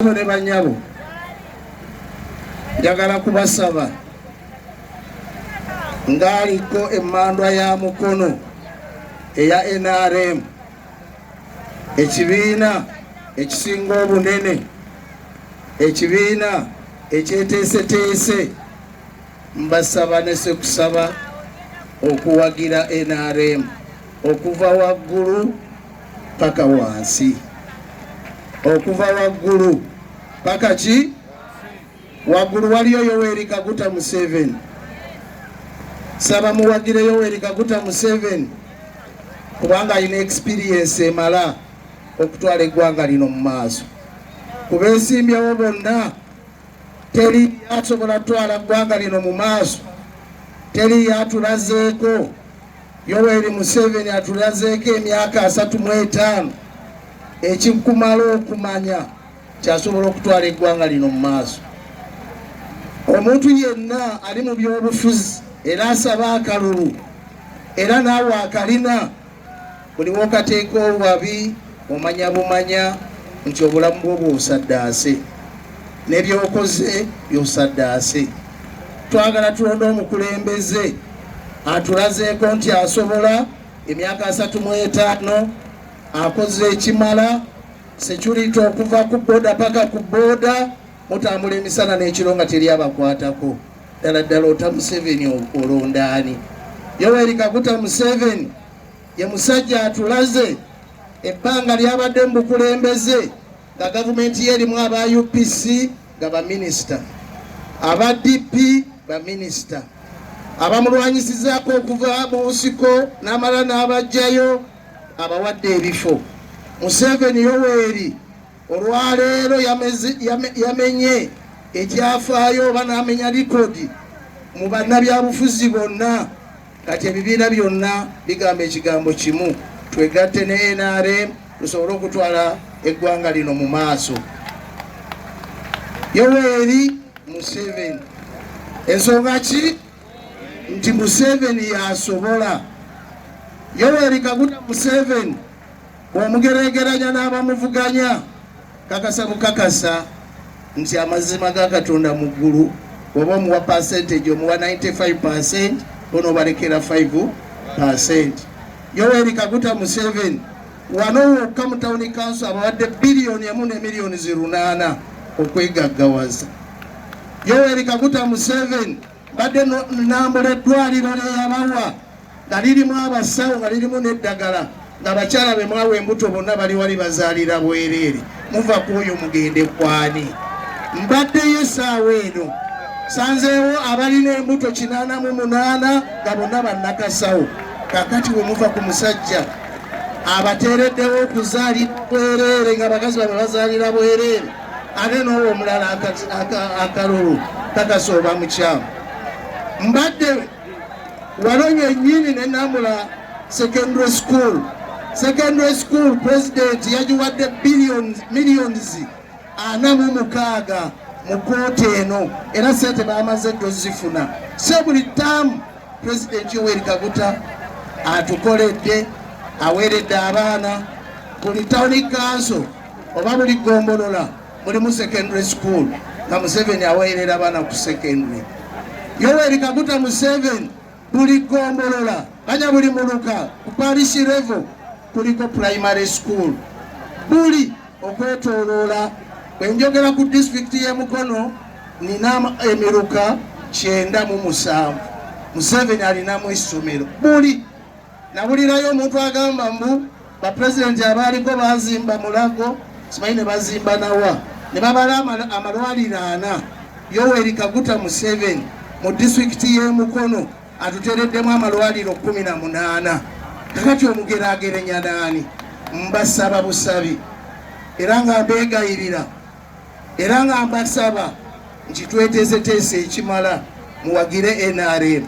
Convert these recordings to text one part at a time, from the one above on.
Bakulu ne banyabo, njagala kubasaba ng'aliko emmandwa ya Mukono eya NRM ekibiina ekisinga obunene ekibiina ekyeteeseteese Mbasaba nese kusaba okuwagira NRM okuva waggulu paka wansi, okuva waggulu paka ki waggulu. Waliyo Yoweri Kaguta Museveni, saba muwagire Yoweri Kaguta Museveni kubanga alina experience emala okutwala eggwanga lino mu maaso. Ku beesimbyewo bonna Teri asobola kutwala ggwanga lino mu maaso, teri atulazeeko. Yoweri Museveni atulazeeko emyaka asatu mu etaano ekikumala okumanya kyasobola okutwala eggwanga lino mu maaso. Omuntu yenna ali mu byobufuzi era asaba akalulu era naawe akalina buli wokateeka obubabi omanya bumanya nti obulamu bwo bwosaddaase nebyokoze byosaddaase twagala tulonda omukulembeze atulazeeko nti asobola emyaka asatu mu etaano akoze ekimala security okuva ku boda paka ku boda mutambula emisana n'ekiro nga teri abakwatako ddala ddala ota museveni olondaani yoweri kaguta museveni ye musajja atulaze ebbanga lyabadde mu bukulembeze nga gavumenti ye erimu aba upc nga baminisita aba dp baminisita abamulwanyisizaako okuva mu nsiko n'amala n'abajjayo abawadde ebifo museveni yoweri olwaleero yamenye ekyafaayo oba n'amenya likodi mu bannabyabufuzi bonna kati ebibiina byonna bigamba ekigambo kimu twegatte ne nrm tusobole okutwala eggwanga lino mu maaso yoweri museveni ensonga ki nti museveni yasobola yoweri kaguta museveni Bw'omugereegeranya n'abamuvuganya, kakasa bukakasa nti amazima ga Katonda mu ggulu bw'oba omuwa percentage omuwa 95% onoobalekera 5%. Yoweri Kaguta Museveni wano wokka mu tawuni kanso abawadde biliyoni emu ne miliyoni zirunaana okwegaggawaza. Yoweri Kaguta Museveni badde nambula eddwaliro lyeyabawa nga lirimu abasawo nga lirimu n'eddagala nga bakyala be mwawa embuto bonna bali wali bazaalira bwereere muva ku oyo mugende kwani mbaddeyo esaawa eno sanzeewo abalina embuto kinaana mu munaana nga bonna bannakasawo kakati we muva ku musajja abateereddewo okuzaalira bwereere nga bakazi bamwe bazaalira bwereere ate n'owo omulala akalulu takasooba mukyamu mbadde wano nyennyini ne namula secondary school secondary school president yagiwadde millions ana mu mukaaga mu kooti eno era sente bamaze dozifuna se buli taamu President Yoweri Kaguta atukoledde aweeredde abaana buli town council oba buli gombolola mulimu secondary school nga Museveni aweerera abaana ku secondary. Yoweri Kaguta Museveni buli gombolola banya buli muluka ku parish level kuliko primary school buli okwetoloola bwenjogera ku disitulikiti y'e Mukono nina emiruka kyenda mu musanvu Museveni alinamu essomero buli nawulirayo omuntu agamba mbu bapulezidenti abaaliko bazimba mulago simanyi ne bazimba nawa ne babala amalwaliro ana Yoweri Kaguta Museveni mu disitulikiti y'e Mukono atutereddemu amalwaliro kumi na munaana kakati omugeragerenya naani mbasaba busabi era nga mbegayirira era nga mbasaba nti tweteeseteese ekimala muwagire nrm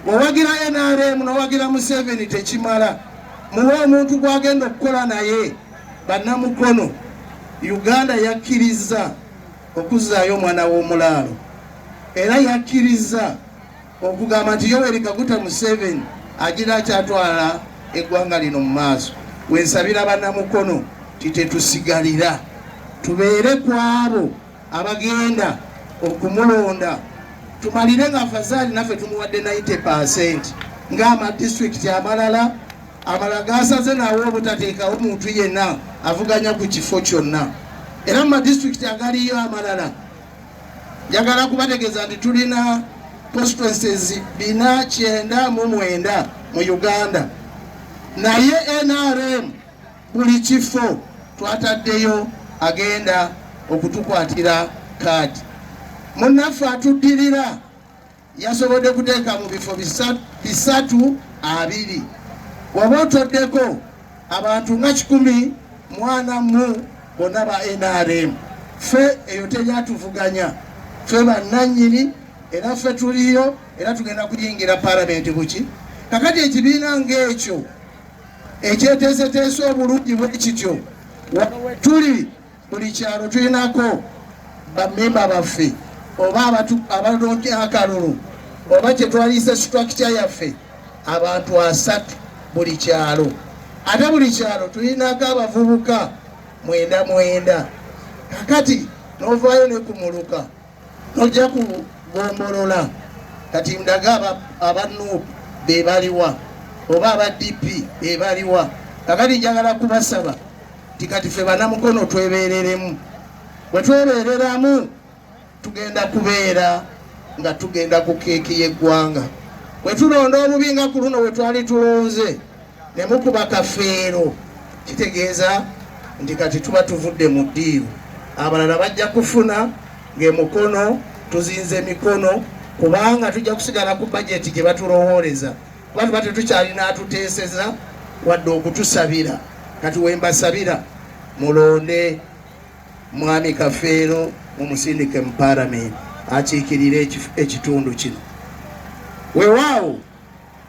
wawagira nrm nowagira museveni tekimala muwe omuntu gwagenda okukola naye bannamukono uganda yakkirizza okuzzaayo omwana w'omulaalo era yakkirizza okugamba nti Yoweri Kaguta Museveni agira akyatwala eggwanga lino mu maaso wensabira banamukono titetusigalira tubeere ku abo abagenda okumulonda tumalire nga afazaali naffe tumuwadde 90 percent ng'amadistrict amalala amala gasaze nawo obutateekawo muntu yenna avuganya ku kifo kyonna era mu madistrict agaliyo amalala Njagala kubategeeza nti tulina constituencies bina kyenda mu mwenda mu Uganda, naye NRM buli kifo twataddeyo agenda okutukwatira kaadi. Munnaffe atuddirira yasobodde kuteeka mu bifo bisatu abiri waba otoddeko abantu nga kikumi mwana mu bonna ba nrm fe eyo teryatuvuganya fe bannanyini era fe tuliyo era tugenda kuyingira palamenti buki kakati ekibiina ngaekyo ekyeteeseteese obulungi bwe kityo tuli buli kyalo tulinako bamemba baffe oba abalonde akalulu oba kyetwaliisa situakitya yaffe abantu asatu buli kyalo ate buli kyalo tulinako abavubuka mwenda mwenda kakati novaayo ne ku muluka Tojja kugombolola kati ndaga aba nup bebaliwa oba aba DP bebaliwa kakati njagala kubasaba ti kati fe banamukono twebereremu bwetwebereramu tugenda kubeera nga tugenda ku keeki y'eggwanga bwe tulonda obubi nga ku luno we twali tulonze ne mukuba kafeero kitegeeza nti kati tuba tuvudde mu ddiiru abalala bajja kufuna ng'emukono tuzinze emikono kubanga tujja kusigala ku bajeti gye batulowooleza kuba tuba tetukyalina atuteeseza wadde okutusabira kati wembasabira mulonde mwami kafeero mumusindike mu paramenti akiikirire ekitundu kino wewaawo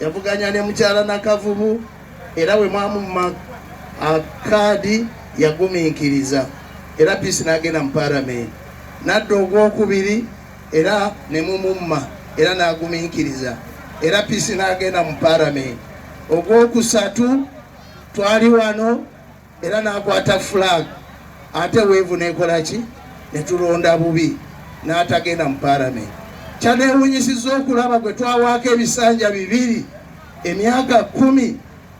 yavuganya ne mukyala Nakavubu era bwe mwamumma akaadi yagumiikiriza era Peace n'agenda mu palamenti n'adda ogwokubiri era ne mumumma era n'agumiikiriza era Peace n'agenda mu palamenti ogwokusatu twali wano era n'akwata flag ate weevu nekola ki ne tulonda bubi n'atagenda mu palamenti kyanewunyisiza okulaba gwe twawaako ebisanja bibiri emyaka kumi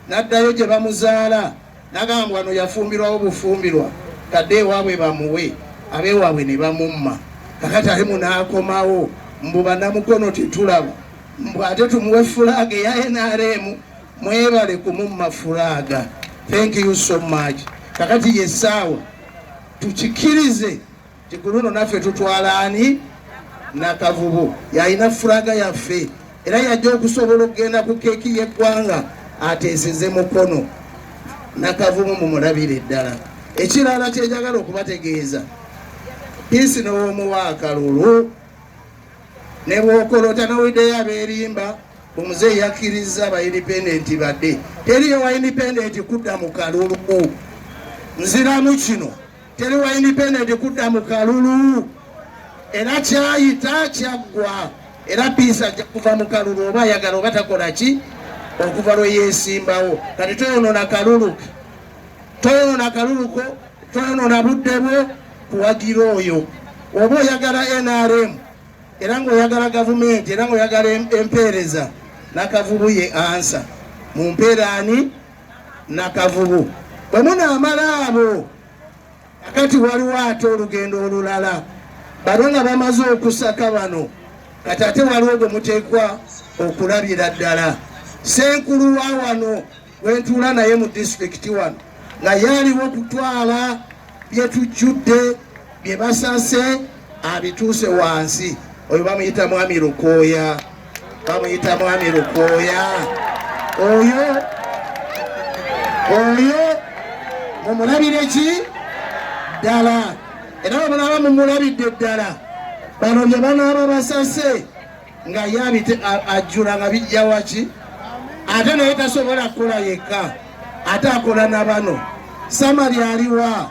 n'addayo gye bamuzaala nagamba wano yafumbirwawo bufumbirwa kadde ewaabwe bamuwe abeewaabwe ne bamumma kakati ate munaakomawo mbu banamukono tetulaba mbu ate tumuwe fulaaga eya nrm Mwebale kumumma furaaga. Thank you so much. Kakati ye saawa tukikirize nti ku luno naffe tutwala ani nakavubu yalina furaga yaffe era yajja okusobola okugenda ku keeki y'eggwanga ateeseze mukono nakavubu mumulabire eddala ekirala kyenjagala okubategeeza piisi n'owomuwa akalulu ne bwokolota nowiddeyo abeerimba omuzeeyi yakkirizza ba indipendenti badde teriyo wa indipendenti kudda mu kalulu nziramu kino teri wa indipendenti kudda mu kalulu era kyayita kyaggwa era piisi ajja kuva mu kalulu oba ayagala oba takola ki okuva lwe yeesimbawo kati toyonoona kalulu toyonoona kalulu ko toyonoona budde bwo kuwagira oyo oba oyagala nrm era ngaoyagala gavumenti era ngaoyagala empeereza nakavubu ye ansa mu mpeera ani nakavubu bwe munaamala abo akati waliwo ate olugendo olulala bano nga bamaze okusaka bano kati ate waliwo gwe muteekwa okulabira ddala senkulu wa wano gwentuula naye mu disitulikiti wano nga yaliwo okutwala byetujjudde bye basase abituuse wansi oyo bamuyita mwami lukooya bamuyita mwami lukooya oyo oyo mumulabire ki ddala era bamulaba mumulabidde ddala bano bye banaaba basase nga ye abite ajjula nga bijja waki ate naye tasobola kukola yekka ate akola na bano samali aliwa